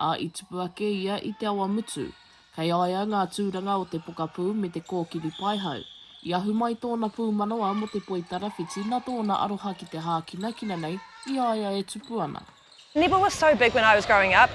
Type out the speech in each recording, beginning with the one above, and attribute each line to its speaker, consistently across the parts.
Speaker 1: Ā, i tupu ake ia i te awa mutu. Kei a ia ngā tūranga o te pokapū me te kōkiri paihau. I ahu mai tōna pūmanawa mō te poi tarawhiti nā tōna aroha ki te hākinakina nei i a ia e tupu ana. Never was so
Speaker 2: big when I was growing up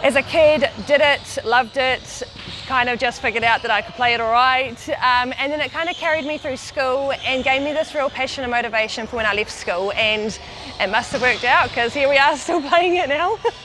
Speaker 2: as a kid, did it, loved it, kind of just figured out that I could play it alright um and then it kind of carried me through school and gave me this real passion and motivation for when I left school and it must have worked out cause here we are still playing it now.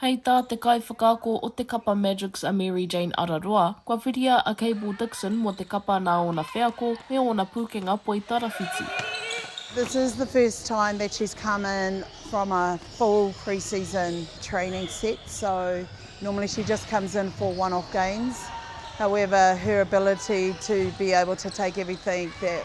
Speaker 3: Hei tā te
Speaker 1: kaiwhakaako o te kapa Magics a Mary Jane Araroa, kua whiria a Cable Dixon mō te kapa nā ōna wheako me ōna pūkenga poi tarawhiti. This
Speaker 3: is the first time that she's come in from a full pre-season training set so normally she just comes in for one off games however her ability to be able to take everything that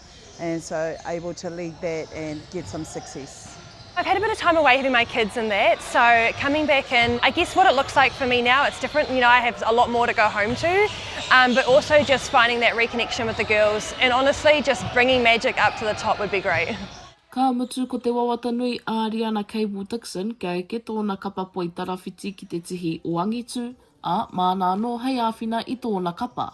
Speaker 3: and so able to lead that and get some success. I've had a bit of time
Speaker 2: away having my kids and that, so coming back in, I guess what it looks like for me now, it's different. You know, I have a lot more to go home to, um, but also just finding that reconnection with the girls, and honestly, just bringing magic up to the top would be great. Ka mutu
Speaker 1: ko te wawata nui a Ariana Cable Dixon kia eke tōna kapa poi tarawhiti ki te tihi o Angitu, ā, māna anō hei āwhina i tōna kapa.